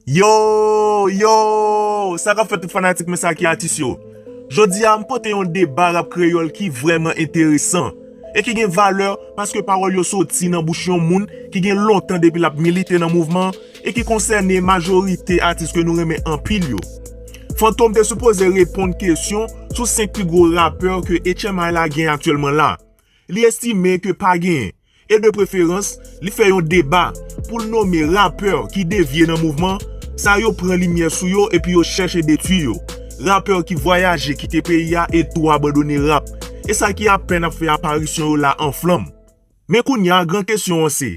Yoow yoow sa kap fè tout fanatik mwen sa ki atis yo Jodi a m pote yon deba rap kreyòl ki vrèman enteresan E ki gen valè paske pawòl yo soti nan bouch yon moun ki gen lontan depi l ap milite nan mouvman e ki konsène majorite atis ke nou renmen anpil yo. Fantom te sipoze reponn kesyon sou 5 pi gwo rapè ke HMI la gen aktyèlman la. Li estime ke pa gen, e de preferans, li fè yon deba pou l nome rapè ki devye nan mouvman sa yo pran limyè sou yo epi yo chèche detwi yo. Rapè ki vwayaje kite peyi a e tou abandone rap e sa ki apèn ap fè aparisyon yo la anflanm. Men kounya gran kesyon an se.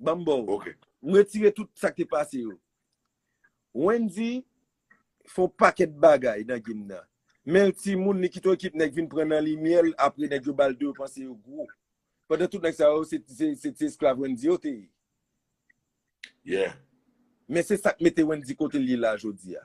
Ban m ba w. Ok. M retire tout sa k te pase yo. Wendy fè yon pakèt bagay nan game nan. Men l timoun, li kite yon ekip nèg vin pran nan limyè l, apre nèg yo ba l 2 yo panse yo gwo. Pandan tout nèg sa yo se ti esklav Wendy yo te ye. Yeah. Men se sa k mete Wendy kote l ye la jodi a.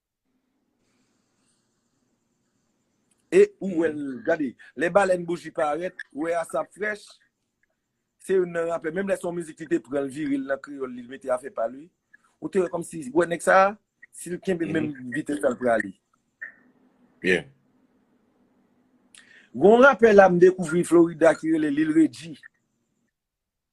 E ou wè l gade lè balèn bouji parèt ou wè asap frèch se youn nan rapè menm lè son mizik li te pran l vire l nan kreyòl li mete afè pa l wi ou te wè kòmsi wè nèg sa si l kenbe menm vitès la l prale byen gon rapè la m dekouvri florida ki rele lil regi.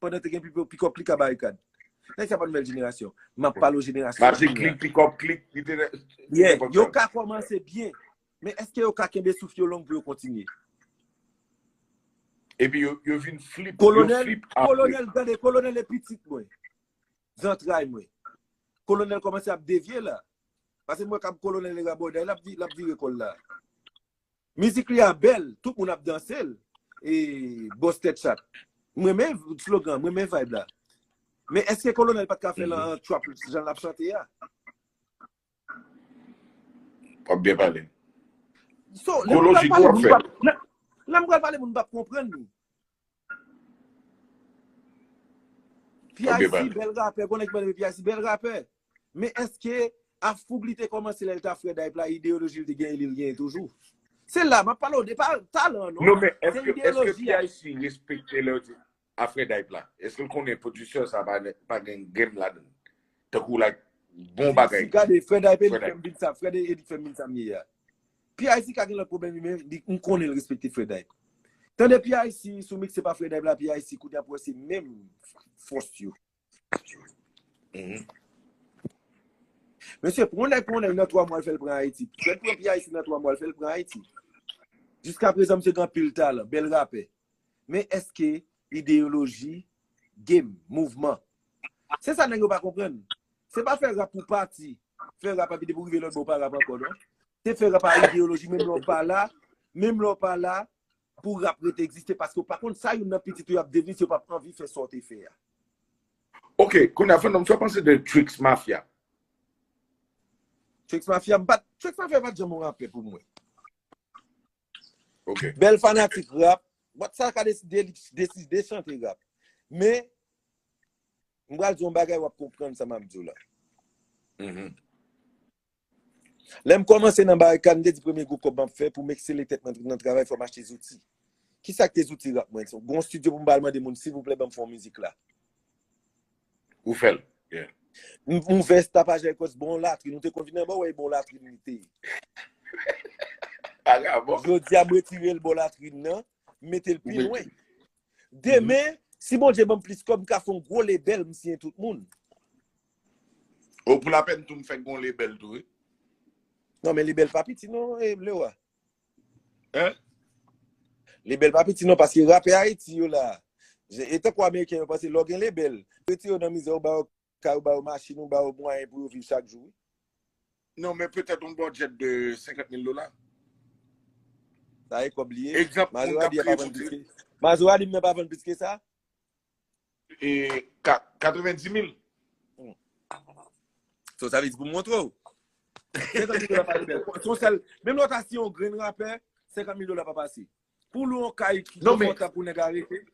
Pandan te gen pipo, pikòp klik a barikad. Nèg sa pa nouvèl jenerasyon. M ap pale w jenerasyon jodi a. Maji klik, pikòp klik. Yeah, yo ka kòmanse byen. Men eske yo ka kenbe souf yo long pou yo kontinye? Epi yo vin flip. Kolonèl, kolonèl, gade, kolonèl e pitit mwen. Zantray mwen. Kolonèl kòmanse ap devye la. Pase mwen kab kolonèl e rabòday, l ap vire kòl la. Mizik li a bèl, tout moun ap danse l. E Boss Tèt Chat. M renmen slogan, m renmen vibe la. Men èske Kolonèl pat ka fè l an trap jan l ap chante a? W ap byen pale. Kolo Jigo ap fè l. Lè m pral pale moun pap konprann. P-ice bèl rapè, gon nèg ki pa renmen P-ice bèl rapè. Men eske a foug li te kòmanse lè li ta frè Dayp la, ideyoloji li te genyen li genyen toujou? Se la map pale w de pa talan non. Non men eske P-ice respekte lè yo di a frè Dayp la? Eske l konnen producer sa pa gen game ladan l? Tankou like bon bagay. Gade frè Dayp e li fèm vin sa, frè Dayp e li fèm vin sa m ye a. PIC ka gen lòt pwoblèm li men li m konnen l respekte Fredayp. Tande PIC sou mikse pa Fredayp la PIC kounye a pou wè se menm fòs yo. Mesye, pou yon nèg pran yon nèg nan 3 mwa l fè l pran Ayiti. Fred pran PIC nan 3 mwa l fè l pran Ayiti. Jiskaprezan misye gen anpil talan, bèl rapè. Men eske ideyoloji, game, mouvman. Se sa nèg yo pa konprann. Se pa fè rap pou pati, fè rap epi depi ou rive lòt bò ou pa rap ankò non. Se fè rap ak ideyoloji menm lè ou pa la, menm lè ou pa la pou rap rete egziste paske ou pa konn sa youn nan pitit ou yo ap devni si yo pap anvi fè sa ou te fè a. Ok, kounya Fandom, sa w panse de Tricks Mafia? Tricks Mafia, m pat, Tricks Mafia pat janm yon rapè pou mwen. Bèl fanatik rap. Bat sa ka deside li deside de chante rap. Men, m bral di yon bagay wap konprann sa map di w la. Lè m kòmanse nan barikad, m te di premye gwo kòb map fè pou m eksele tèt mwen nan travay fò m achte zouti. Kisa k te zouti rap mwen? Gon studio pou m bal mande moun silvouplè banm fè yon mizik la. Ou fèl. M ouvè s tapaj èk wòs bon latrin. Ou te konn vin anba w e bon latrin li te. Jodi a m retire l bò latrin nan, m mete l pi lwen. Demen, si Bondye ban m plis kòb, m ka fè yon gwo lebèl, m siyen tout moun. O pou lapèn tou m fè yon lebèl tou wi. Non men lebèl pa piti non Lewa. Hein? Lebel pa piti non paske rapè Haiti yo la. Je e tankou ameriken yo panse lè w gen lebel, retire yo nan mizè ou ba yo kay ou ba yo machin ou ba yo mwayen pou yo viv chak jou wi. Non men petèt yon budget de 50 mil dola. Sa e kòb li ye. Egzanp moun k Mazora ap di a pa kreye vann plis boutik. ke Mazora di m nan pa vann plis ke sa? E 90 mil. So sa vle di pou montre ou. Menm lò ta si yon gren rapè, 50 mil dola pa pase. Pou lou yon kay ki non, pou konta pou nèg arete.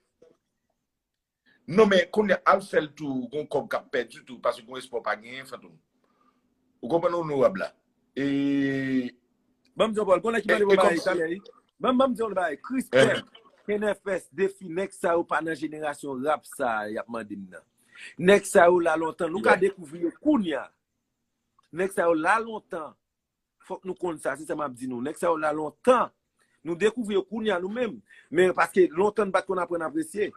Non men, konye al fèl tou, gon kòb kap pèdi tou, pasi kon espò pa gen, fantoum. Ou konpè non nou wab la. E, ban m di w Paul, konnen ki mande pou bagay talè yi? Ban m di w yon bagay, Christèl, Kenèfès, Defi, nèg sa yo pa nan jenerasyon rap sa y ap mande m nan. Nèg sa yo la lontan, nou ka dekouvri yo kounya. Nèg sa yo la lontan, fòk nou konn sa, se sa m ap di nou. Nèg sa yo la lontan, nou dekouvri yo kounya nou menm. Men, paske lontan nou pa t konn aprann apresye.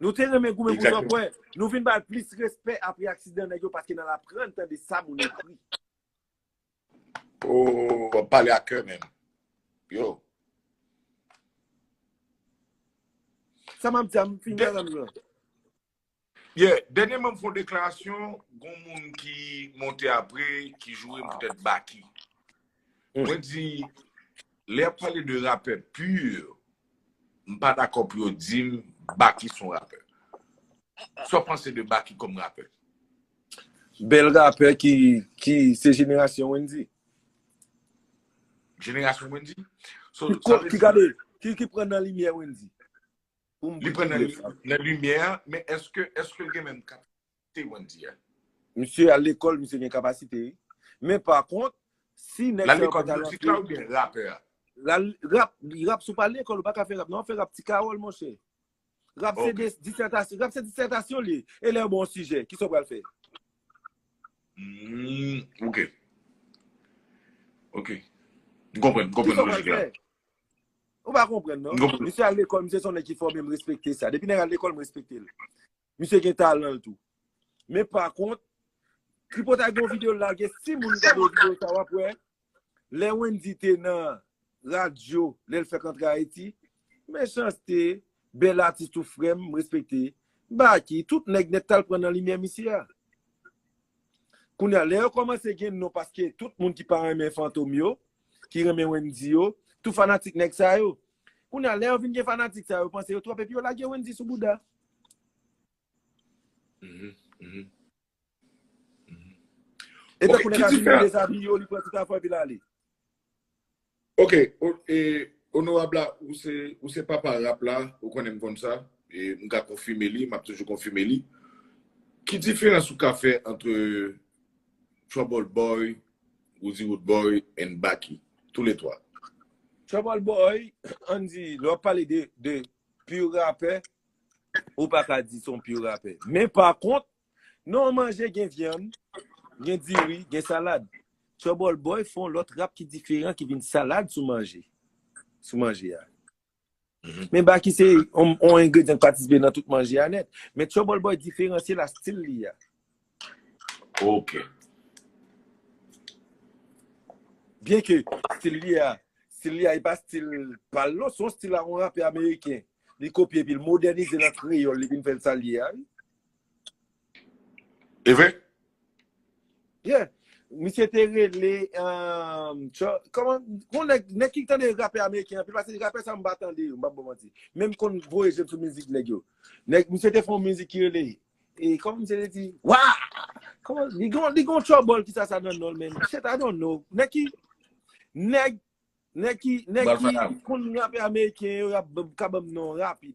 Nou te renmen goumen pou Jean Paul, nou vin bal plis respè apre aksidan nèg yo paske nan aprann tande sa moun ekri. Oh, wap pale a kè men. Yo. Sa map di a, m fin nan nan. Ye, denye moun foun deklarasyon, goun moun ki monte apre, ki joure m poutèt baki. Mwen di, lè ap pale de rapè pur, M pa dakò pou yo di m Baky son rapè. Sa w panse de Baky kòm rapè? Bèl rapè ki se jenerasyon Wendyy. Jenerasyon Wendyy? Ki gade, ki pran nan limyè Wendyy. Li pran nan limyè, men eske l gen menm kapasite? te konn di a. Misye al lekòl, misye gen kapasite wi. Men pa kont, si nèg sa yo pa ta rantre. L al lekòl mizik la oubyen rapè a? Rap, rap si w pa al lekòl ou pa ka fè rap non, w ap fè rap ti kawòl monchè. Rap se disètasyon, rap se disètasyon li. E lè yo ba w yon sijè, kisa w pral fè? Humm, ok. Ok. M konprann, m konprann lojik la. Kisa w pral fè? Ou pa konprann non. M konprann. Misye al lekòl, misye se yon nèg ki fòme, m respekte sa. Depi nèg al lekòl, m respekte l. Misye gen talan l tou. Men pa kont, tripotay gen yon video l lage, si moun gade video sa w ap wè, lè Wendy te nan radyo, lè l fèk antre Ayiti, Mechanste, bèl atis tou frè m, m respekte. Baky, tout nèg nèt t al pran nan limyè misye a. Kounye a, lè yo kòmanse gen non paske tout moun ki pa renmen Fantom yo, ki renmen Wendy yo, tou fanatik nèg sa yo. Kounya lè yo vin gen fanatik sa yo panse yo twòp epi yo lage Wendy sou bouda. E tankou nèg la vin li dezabiye yo li pran tout afè epi l ale. Ok e onorab la ou se papa rap la ou konnen m konn sa e m ka konfime li map toujou konfime li. Ki diferans ou ka fè antre Troubleboy Roody Roodboy and Baky. Tou le 3. Trouble Boy, ann di, lè wap pale de pur rapè, ou pa ka di son pur rapè. Men pa kont, nan yon manje gen vyann, gen diri, gen salad. Trouble Boy fè yon lòt rap ki diferan ki vin salad sou manje. Sou manje a. Men Baky se yon engredyan ki patisipe nan tout manje a nèt. Men Troubleboy diferansye l a stil li a. Ok. Byen ke stil li a, stil li a e pa stil pa l non, se yon stil a yon rapè ameriken. Li kopye epi l modènize l an kreyòl li vin fè l sa l ye a wi. E vre? Yeah. Misye te rele, um, tchò, kòman, kon nèg, nèg ki tande rapè ameriken anpil, pase rapè sa m pa tande yo, m pap bon manti. Men m konn voye je m sou mizik nèg yo. Nèg, misye te fè yon mizik ki rele, e kòman misye te di, wa! Kòman, li gon, li gon trouble ki sa sa nan non l men, shit I don't know. Nèg ki, nèg, nèg ki, nèg ki konn rapè ameriken yo, y ap, ka ban m non rapid.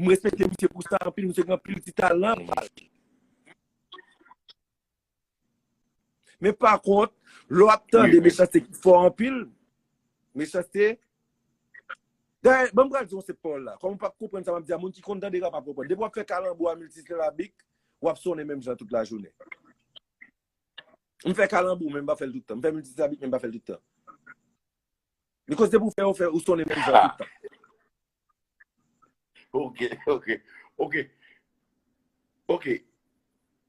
M respekte misye pou sa anpil, misye gen anpil ti talan. Men pa kont, lè w ap tande mechanste ki fò anpil, mechanste, dayè, ban m pral di yon sèt pawòl la, kòm ou pa konprann sa m ap di a, moun ki konn tande rap ap konprann. Depi w ap fè kalanbou a miltisilabik, w ap sonnen menm jan tout lajounen. M fè kalanbou men m pa fè l tout tan. M fè miltisilabik men m pa fè l tout tan. Li koz depi ou fè ou fè ou sonnen menm jan tout tan. Ok, ok, ok, ok.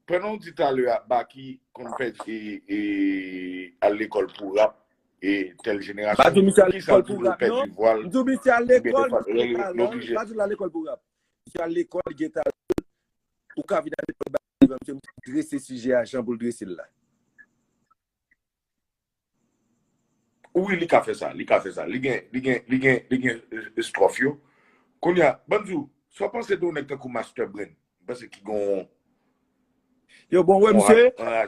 Pèndan ou di talè a Baky konn fè e e al lekòl pou rap e tèl jenerasyon. Pa di misye al lekòl pou rap non. M di ou misye al lekòl pou rap. Pa di ou al lekòl pou rap. Misye al lekòl li gen talan. Ou ka vin al lekòl Baky. Misye trese sijè a jan pou l trese l la. Wi li ka fè sa, li ka fè sa, li gen, li gen, li gen, li gen estròf yo. Kounye a, banm di w, sa w panse de yon nèg tankou Master Brain, m panse ki gen yon. Yo bon wè misye,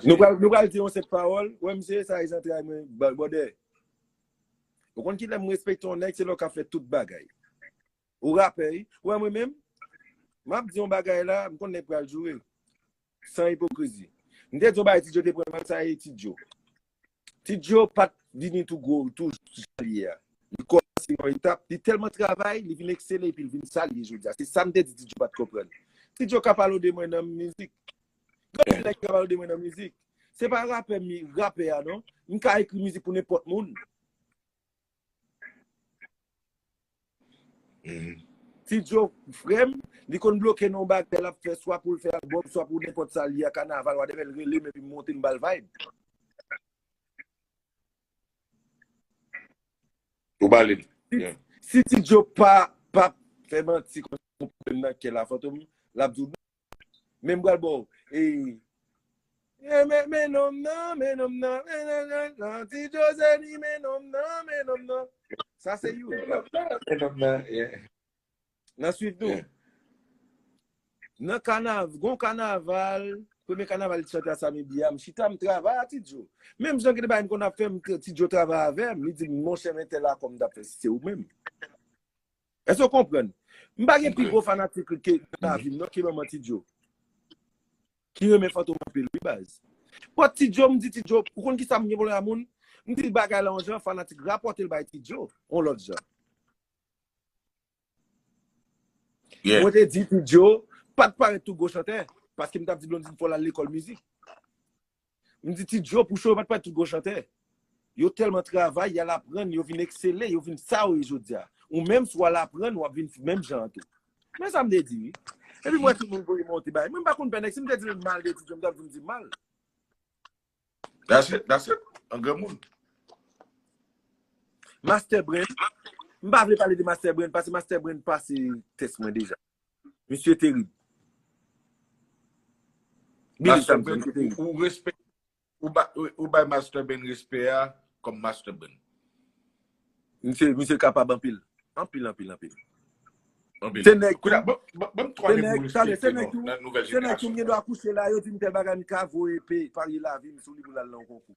nou pral, nou pral di yon senp pawòl, wè misye sa e zantray mwen, bòdè. Ou konn ki lè m respekte yon nèg, se lè w ka fè tout bagay. Ou rapè wi, wè mwen menm, m ap di yon bagay la, m konn nèg pral joure. San ipokrizi. M te di w bagay Ti Djo te pran mal sa e Ti Djo. Ti Djo pa t vini tou gwo, tou jan l ye a. Li kòmanse yon etap, li tèlman travay, li vin eksele epi l vin sa l ye jodi a. Se sa m te di Ti Djo pa t konprann. Ti Djo ka pale w de mwen nan mizik. Gen anpil nèg ki ka pale w de mwen nan mizik. Se pa rapè, rapè a non. M ka ekri mizik pou nenpòt moun. Tidjo frèm li konn bloke nan yon bagay lap fè swa poul fè album swa pou nenpòt sa liye kanaval whatever relem epi m monte m bal vibe. Ou ba li. Si Tidjo pa fè manti konsa pou pwoblèm nan kèl a Fantom lap di w non. Men m pral baw e e men men nom nan men nom nan men nan nan nan ti Josely men nom nan men nom nan sa se you men nom nan men nom nan yeah nan swiv tou yeah nan kanav gon kanaval premye kanaval li t chante a Samy Bia m chita m travay a ti Djo menm jan gen de bagay m konn ap fè m ti Djo travay avèm li di m monchè men tèl akò m tap fè si se ou menm. Èske w konprann? M pa gen pi gwo fanatik li nan lavi m non ki manman Ti Djo. Ki renmen Fantom anpil wi baz. But Ti Djo m di Ti Djo, ou konn kisa m gen pwoblèm ak moun? M di l bagay la yon jan, fanatik rapòte l bay Ti Djo yon lòt jan. Mwen te di Ti Djo pa t parèt tou gwo chantè, paske m t ap di Blondine fò l al lekòl mizik. M di ti Djo pou cho yo pa t pale tout gwo chantè. Yo tèlman travay, y al aprann, yo vin eksele, yo vin sa yo ye jodi a. Ou menm si w al aprann, w ap vin menm jan an tou. Men sa m te di wi. Epi m wè tout moun voye monte bay. Mwen m pa konn pè nèg. Si m te di l mal de ti Djo, m t ap di m di mal. That's it, that's it. An granmoun. Master Brain. M pa vle pale de Master Brain pase Master Brain pase tès mwen deja. Misye terib. Master Ben, ou respè, ou bay Master Ben respè a kòm Master Ben. Misye kapab anpil. Anpil, anpil, anpil. Anpil. Se nèk. Kouda, bon, bon, bon, twa de moun respè. Se nèk tou, se nèk tou mwen do akouche la, yo di mwen te bagan mwen ka voye pe, pari la vi mwen sou li pou lal nan konkou.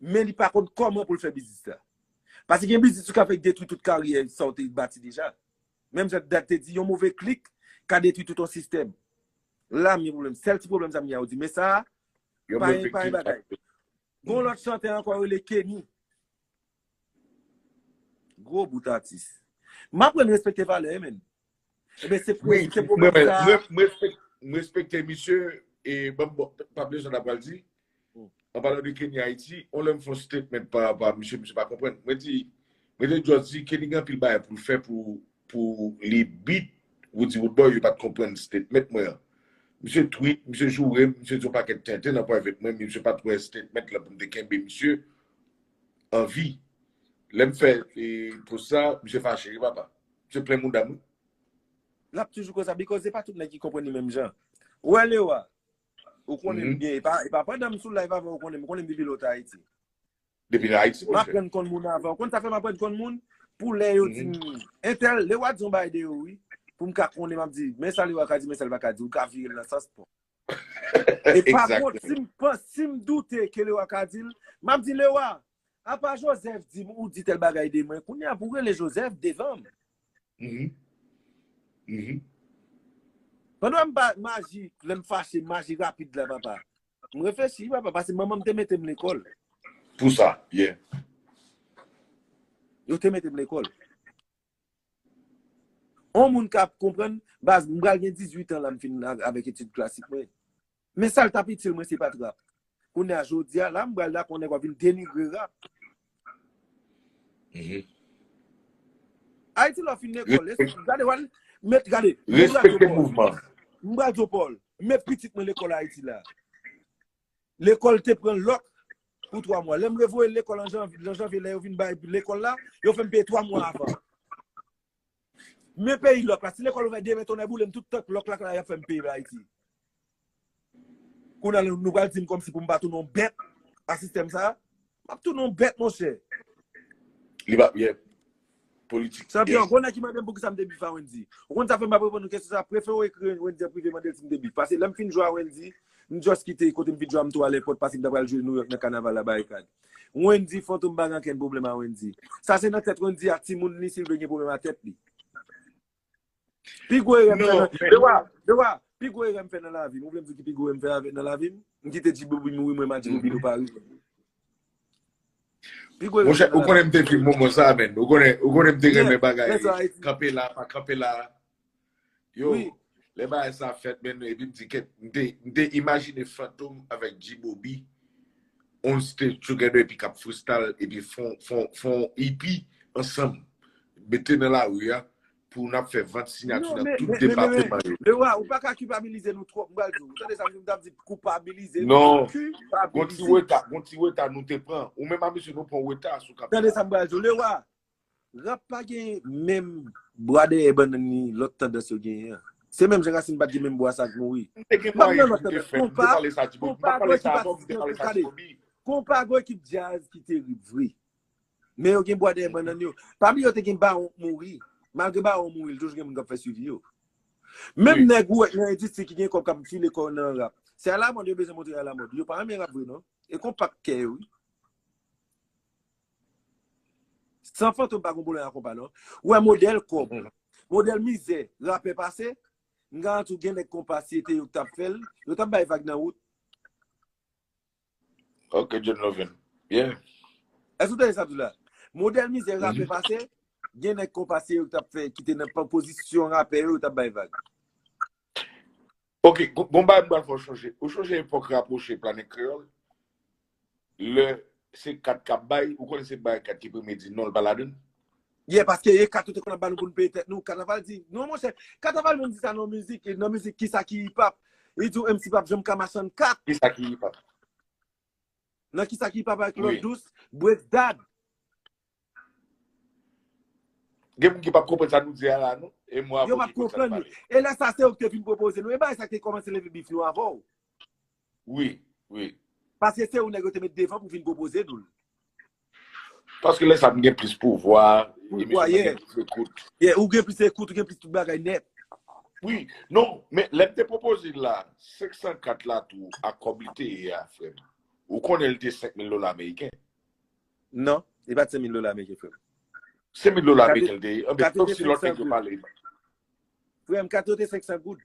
men li pa konn kòman pou l fè biznis la. Pase gen biznis ou ka fè ki detwi tout karyè sa ou te bati deja. Menm jan Dad te di, yon move klik ka detwi tout yon sistèm. La m gen pwoblèm. Sèl ti pwoblèm sa m gen a ou di. Men sa a, pa yon bagay. Gon lòt chantè ankò yo rele Kenny. Gwo bout atis. M aprann respekte valè men. Ebe se pou se pou mwen sa. M respekte misye e banm bon pa ple zon apal di. An pale de Kenny Haiti, on lèm fon statement pa pa misye misye pa konpwen. Mwen di mwen te just di Kenny gen pil bay pou l fè pou pou li beat Woody Woodboy yo pat konpwen statement mwen an. Misye tweet, misye joure m, misye di yon paket tenten nan private mwen misye pat wè statement la pou m te kenbe misye anvi. Lèm fè e post sa misye fache wi papa. Misye plen mouda m wi. Lap toujou konsa because e pa tout nèg ki konprann li menm jan. Wè Leo a, ou konnen m byen, e pa e pa pandan m sou live avè w ou konnen m, ou konnen m depi lè w te Ayiti. Depi nan Ayiti, mon cher. M aprann konn moun avè w. Ou konn sa fè m aprann konn moun? Pou lè yo di m entèl, Leo a di yon bagay de yo wi, pou m ka konnen m ap di men sa Leo a ka di men sa l pa ka di, ou ka vire l nan sans paw. E pa kont si m panse, si m doute ke Leo a ka di l, m ap di Leo a, Apa Joseph di m ou di tèl bagay de mwen, kounye a pou w rele Joseph devan m? Pandan m pa maji, lè m fache m maji rapid la papa. M reflechi papa, pase manman m te mete m lekòl. Pou sa, yeah. Yo te mete m lekòl. On moun ka konprann, baz m pral gen 18 an la m fin avèk etid klasik mwen. Men sal tap itil mwen se pat rap. Kounya jodia la m pral dakò nèg wap vin denigre rap. Ayiti lò fin lekòl eske gade wal met gade mwen pral di w Paul mwen pral di w Paul met pitit mwen lekòl Ayiti la lekòl te pran lòk pou 3 mwa lè m revoye l lekòl an jan jan vye lè yo vin bay lekòl la yo fè m peye 3 mwa avan. Men peyi lòk la, si lekòl ouvè demen tonnè boulem tout tank lòk la yap fèm peye ayiti. Kounye la nou pral dim kòmsi poum pa tounen yon bèt a sistèm sa? Map tounen yon bèt monchè. Li pap yè politik. Chanpyon, gwo nèg ki mandem poukisa m te bif a Wendy. Ou konn sa fè m pap reponn ou kesyon sa, prefere ou ekri Wendy an prive mande l si m te bif. Pase lè m fin jwe a Wendy, m just kite kote m fin jwe a m tou ale pòt pase m ta pral jwe Nouyòk nan kanaval la Barikad. Wendy fantom pa gen ankenn pwoblèm a Wendy. Sa se nan tèt Wendy ak timoun li si l vle gen pwoblèm a tèt li. Pi gwo erè m fè nan. Dewa, Dewa, pi gwo erè m fè nan lavi m. Ou vle m di w ki pi gwo erè m fè avè nan lavi m? M kite Djibobi mouri mwen m a Djibobi nou pa rive. Pi gwo erè m fè nan lavi m. Monchè, ou konnen m te di moman sa a menn. Ou konnen, ou konnen m te renmen bagay kanpe la pa kanpe la. Yo, lè bagay sa ap fèt men nou epi m di kèt m te m te imajine Fantom avèk G-Bobby on stage together epi k ap freestyle epi fon fon fon EP ansanm mete nan lari a pou n ap fè vant sinyati Non, nan men, tout men, men, men, depateman men, yo. Leroy, ou pa ka kipabilize nou twòp, m pral di w. Ou tande sa m di, m t ap di koupabilize nou, Non, gon ti kipabilize. reta, gon ti reta nou te pran. Ou menm a mesye nou pran reta sou Tande kapila. sa m pral di w, Leroy, Rap pa gen menm bwa dèyè bannann ni lòt tandans yo genyen an. Se menm jan rasin pat gen menm bwa sa k mouri. M ap nan lòt tandans. Konpa, konpa gwo ekip atis nan tou kade. Konpa gwo ekip djaz ki terib vre. Men yo gen bwa dèyè bannann yo. Pami yo te gen Bawon k mouri. Malgre Bawon mouri, li toujou gen moun k ap fè swivi yo. Menm nèg ou wè nan endistri ki gen kòb k ap file kò nan rap. Se alamòd yo bezwen montre alamòd. Yo pa renmen rap vre non. E konpa k kè yo wi. San fantom pa gon pwoblèm ak konpa non. Ou wè modèl kòb, modèl mizè rapè pase, m garanti w gen nèg konpa si e te yo k t ap fè l, yo t ap bay vag nan wout. Ok John Lovin. Yeah. Èske ou tande sa m di w la? Modèl mizè rapè pase, gen nèg konpa si e yo k t ap fè ki te nan pozisyon rapè yo, yo t ap bay vag. Ok, gon bagay m pral fè w chonje. Ou chonje epòk rapwoche Planet Kreyòl? Lè se kat k ap bay, ou konnen se bay kat ki premye di non l pa ladan l? Yeah, paske e kat yo te konn ap ba nou pou nou peye tèt nou. Kanaval di, non monchè, Kanaval menm di sa nan yon mizik, nan mizik Kisa ki Hip Hop, li di w MC pap janm ka machann kat. Kisa ki Hip Hop? Nan kisa ki pa bay klòt dous break dad. Gen moun ki pap konprann sa nou di a la non. E mwen avèw ki konn sa nou pale. E lè sa se ou ki te vin pwopoze nou. E bagay sa ki te kòmanse leve bif nou avèw. Wi, wi. Paske se ou nèg yo te met devan pou vin pwopoze nou l. Paske lè sa m gen plis pouvwa, emisyon mwen gen plis ekout. Yeah, ou gen plis ekout, ou gen plis tout bagay nèt. Wi, non, men lè m te pwopoze l la, 504 la tou ak kòb li te ye a frè m, ou konnen li te 5000 dola ameriken? Non, li pa t 5000 dola ameriken frè m. 5000 dola ameriken li te ye? Anben, sauf si lòt nèg yo pale. Frè m, kate yo te 500 goud.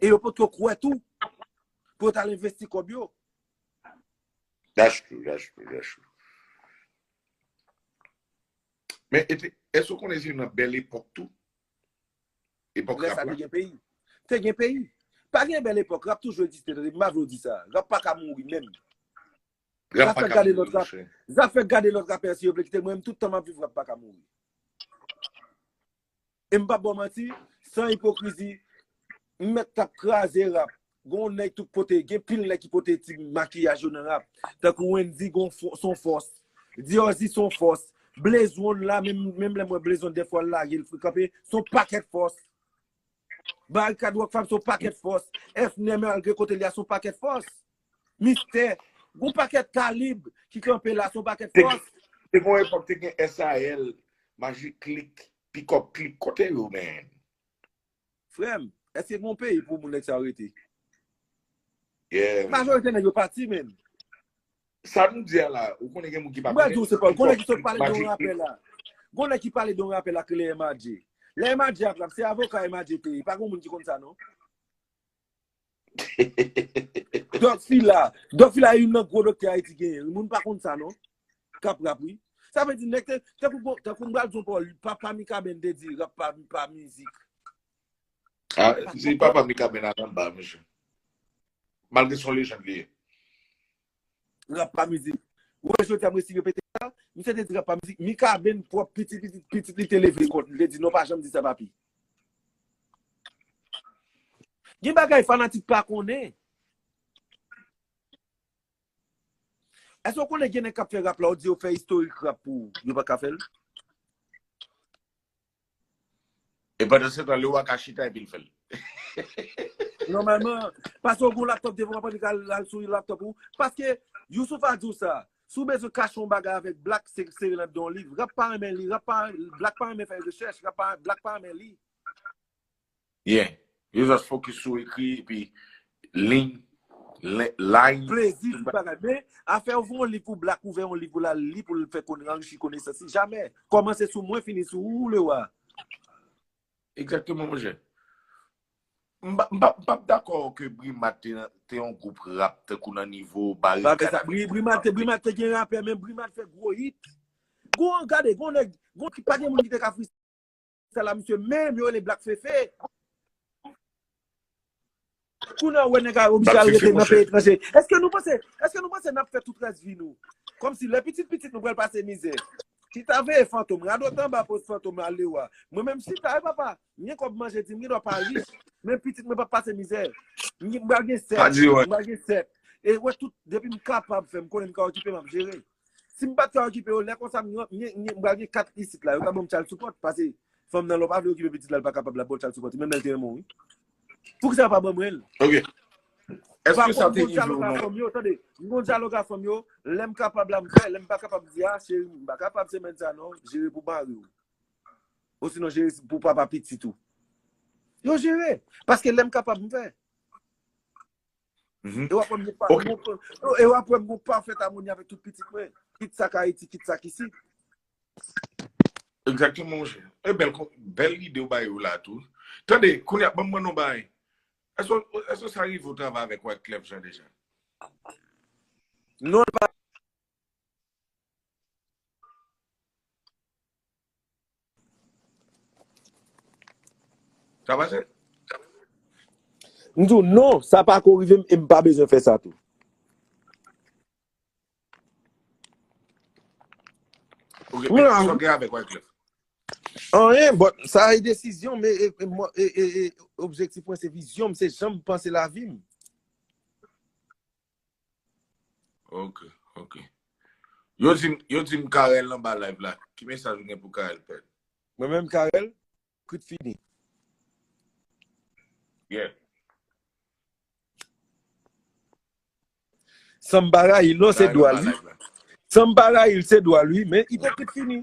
E yo pot ko kwè tou pou yo tal envesti kòb yo. That's true, that's true, that's true. Men, eske w konnen se nan bèl epòk tou? Epòk rap la? Lè sa te gen peyi. Te gen peyi. Pa gen bèl epòk, rap toujou egziste, tande, m pa vle w di sa. Rap pa ka mouri menm. Rap pa ka mouri, mwen chè. Zafè gade lòt rapè si yo vle kite, mwen menm tout tan m ap viv rap pa ka mouri. E m pap ba w manti, san ipokrizi, m mèt t ap kraze rap. Gen yon nèg tout kote, gen pil nèg ki pote ti makiyaj yo nan rap. Tankou Wendy gen yon son fòs, Dieuzy son fòs, Blaze One la, menm lè m wè Blaze One dèfwa l lage l frekan pe, son pakèt fòs. Barikad Rockfam son pakèt fòs. FNè malgre kote li a son pakèt fòs. Mistè, gon pakèt kalib ki kanpe la son pakèt fòs. Te gon epòk te gen SAL, Majik Klik, Pikòp Klik, kote yo menm? Frè m, èske gon peyi pou moun nèg sa yo rete? Majorite nèg yo pati menm. Sa nou di a la, ou konnen gen moun ki pa konnen. Mwen di ou se pa, ou konnen ki sot pale de yon rapè la. Konnen ki pale de yon rapè la ki le MAJ. Le MAJ ap rap, se avoka MAJ te ye. Pa gen moun ki konnen sa non. Doc Fila, Doc Fila yon nan gwo doktè Ayiti gen yon. Moun pa konnen sa non. Kap rap wi. Sa vè di nek te, te kou mwen al di yon pa ou, pa mi kaben de di rap pa mizik. Se papa Mika Bernard an ba mesye. Malgre son lejand li ye. Rap pa mizik. Ou wè jodi a m resi repete sa, misye te di rap pa mizik, Mika Ben pwòp pitit li, pitit li te leve kont li, li te di non pa janm di sa papi. Gen bagay fanatik pa konnen. Èske ou konnen gen nèg k ap fè rap la, ou di yo fè istorik rap pou ou, yo pa ka fè l? E pandansetan, le wa ka chita epi l fè l. Nòmalman, pase w gen yon laptòp devan w apan li ka al sou laptòp ou. Paske, Youssouf a di w sa, si w bezwen kache yon bagay avèk Black, se sere l anndan yon liv. Rap pa renmen li, Black pa renmen fè rechèch, Black pa renmen li. Byen. Yo just focus sou ekri epi lign, line. Plezi tout bagay. Men, afè ouvri yon liv pou Black ouvè yon liv pou l al li pou l fè konn anrichi konesans li. Jamè. Kòmanse sou mwen fini sou ou, Lewa. Egzakteman monchè. M pa p dakò ke Brimad te yon gwoup rap tankou nan nivo Barikad. Brimad te gen rapè men Brimad fè gwo hit. Gwo gade, gwo nèg, gwo ki pa gen moun ki te ka fri. Sa la misye menm yo rele black fefe. Kou nan wè nèg a oblije al rete nan peyi etranje. Eske nou panse, eske nou panse nap fè tout rès vi nou. Kòm si lè pitit pitit nou pral pase mizè. Chita veye fantom, radòt anba poz fantom la leu a. Mwen menm chita wi papa, m gen kòb manje di m gen dwa pa rich, men pitit mwen pap pase mizè. M pral gen 7, m pral gen 7. E wè tout, depi m kapab fè, m konnen m ka okipe map jere. Si m pat ka okipe yo lè konsa m pral gen 4 isit la yo ka banm child support pase fanm nan lè w pa vle okipe pitit la l pa kapab lap baw child support menm lè l te renmen w wi. Poukisa yo pa ban mwen l? Ok. Eske sa te rive w nan. M pa konn m gon dyalog a fanm yo tande m gon dyalog a fanm yo lè m kapab la m fè lè m pa kapab m di a cheri m pa kapab semèn sa non jere pou mari w osinon jere pou papa pitit ou. Yo jere paske lè m kapab m fè. E wap wè mwen pa, e wap wè mwen pa fèt amoni avèk tout pitit mwen, kit sa k Ayiti, kit sa k isi. Exactement mon cher. E bel, bel ide ou bay ou la tou. Tande, kounya, banm mwen nou bay. Eso, eso sa rive ou travay avèk wèk klef jan deja? Non, l pa. Sa pase? M di w non, sa pa ko rive m e m pa bezwen fè sa tou. Ok, men sa w gen avèk Wyclef? Anyen, but sa e desizyon m e objektif mwen se vizyon m, se jan m panse lavi m. Ok, ok. Yo di, yo di m Carel nan ba live la. Ki mesaj ou gen pou Carel Pèl? Mwen menm Carel, kout fini. Yeah. San m pa rayi l non, se dwa l wi. San m pa rayi l, se dwa l wi, men i te kout fini.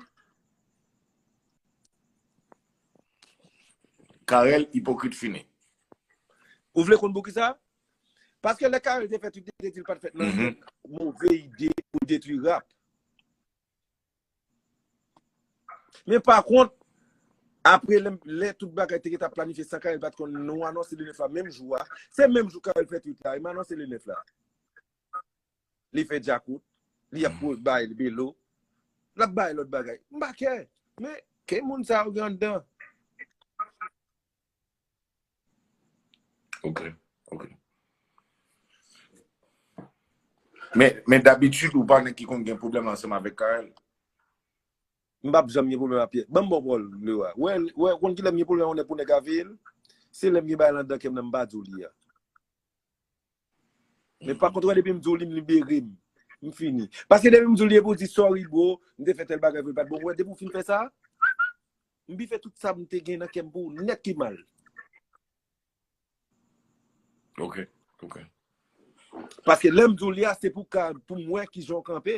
Carel, ipokrit fini. Ou vle konn pou ki sa? Paske lè Carel te fè tout li te di li pat fèt nan yon move ide pou detwi rap. Men pa kont, apre lè tout bagay te geta planifye san Carel pat konn nou anonse le 9 la menm jou a, se menm jou Carel fè twit la, e m anonse le 9 la. Li fè djakout, li ap pou bay belo, l ap bay lòt bagay. M pa kè, men ke moun sa yo gen anndan. Ok, ok. Men, men dabitid ou pa nèg ki konn gen pwoblèm ansanm avèk Carel? M pap janm gen pwoblèm ak pyè. Ban m bon pawòl, Leroy. Wè, wè, ou konn ki lè m gen pwoblèm yon nèg pou nèg ka veye l? Se lè m gen bagay lan dan kè m nan m pa di w li a. Men pakont wè depi m di w li m libere m. M fini. Paske depi m di w li epi w di sorry bro, m te fè tèl bagay pou l pat bon. Wè depi w fin fè sa, m bife tout sa m te gen nan kè m pou w nèt pi mal. Ok, ok. Paske lè m di w li a se pou ka, pou m wè kijan w kanpe.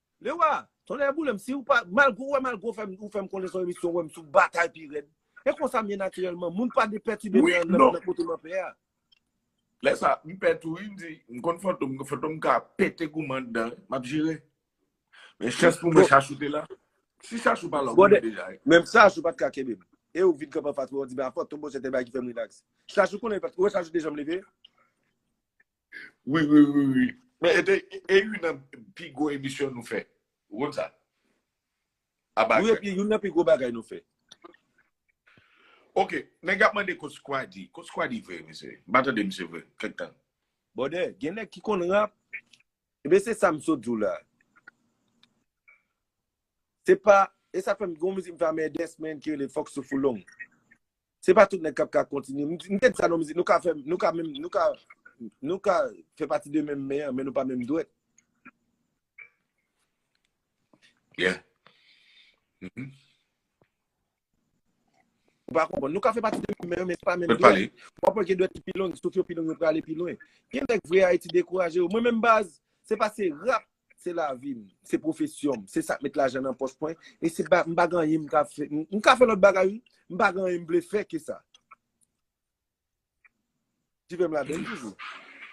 Lewa, tonnè boulem siw pa, malgre ou wèm al gwo fèm ou fèm konnen son emisyon wèm sou batay pi rèd. E konsam ye natirèlman, moun pa de pètibe m nan nan kote man pè a. Lè sa, m pè tou wi, m di, m konn fantom, fantom ka pete goumen anndan wi, map jere. Men chans pou mwen chachou te la. Si chachou pa la, ou mouri deja. Menm chachou pat ka kenbem. E ou vin kanpe anfas mwen, ou di m a fantom bon se te bagay ki fèm rilaks. Chachou konnen li pat, ou wè chachou te janm leve? Wi wi wi wi. Men e te e youn nan pi gwo emisyon nou fè. Ou konn sa? Aba Wi gad. epi youn nan pi gwo bagay nou fè. Ok, nèg ap mande kot Squaddy. Kot Squaddy vre mesye? M pa tande misye vre kèk tan. Bòdè, gen nèg ki konn rap. Ebyen se sa m sot di w la. Se pa, e sa fè m gen yon mizik m fè a Merdès men ki rele Fòk Souf ou long. Se pa tout nèg kap ka kontinye. M te di sa nan mizik, nou ka fè, nou ka menm, nou ka, nou ka fè pati de menm men an, men nou pa menm dwèt. Yeah. Mhm. Ou pa konpon. Nou ka fè pati de menm men an, men se pa menm Mwen dwèt. pale. Ou apon gen dwèt ki pi long, souf yo pi long, yo prale pi lwen. Gen nèk vre Ayiti dekouraje yo. Mwen menm baz, se pa se rap Se lavi m, se pwofesyon m, se sa k met lajan nan pòch mwen, e se pa, m pa gen anyen m ka fè, m ka fè lòt bagay wi, m pa gen anyen m vle fè ke sa. Ti fè m la bèl toujou.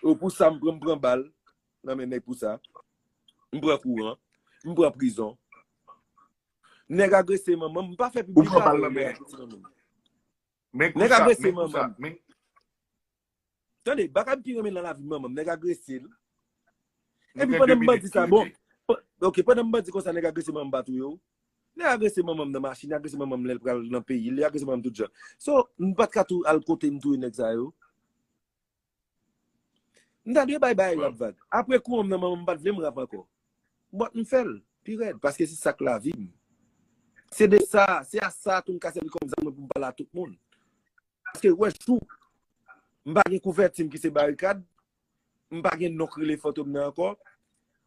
O pou sa m pran, m pran bal nan men nèg pou sa. M pran kouran, m pran prizon. Nèg agrese manman m, m pa fè piblik la. Ou pran bal nan men nèg. Nèg agrese manman m. Tande, bagay m pi renmen lan lavi manman m, nèg agrese l. Nou Epi gen 2 pandan m minit bandi sa, bon, kilti. pa- ok, pandan m bandi konsa nèg agrese manman m pa touye w. Nèg agrese manman m nan machin, li agrese manman m lè l pral nan peyi l, li agrese manman m tout jan. So, m pat ka tou al kote m touye nèg sa yo. M ta dwe bay bay Bon. rap vag. Apre kou an m nan manman m pat vle m rap ankò. But m fè l, pi rèd, paske se sak lavi m. Se de sa, se a sa tou m ka sèvi kòm zam mwen pou m pale a tout moun. Paske wè chou, m pa gen kouvèti m ki se barikad, m pa gen non k rele fantom nan ankò,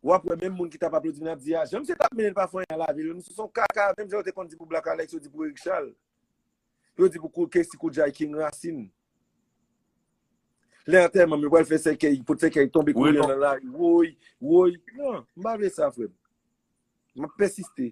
w ap wè menm moun ki t ap aplodi m nan ap di a jan misye t ap mennen l pa fanyen nan lavi l, misye se yon kaka menm jan yo te konn di pou Black Alex yo di pou Erik Chal, yo di pou Kessy Koudjay King Rasin. Lè antèman m yo pral fè sèkèy, pot sèkèy tonbe kou lè nan lari, woy, woy, nan, m pa vle sa frè m. M ap pèsiste.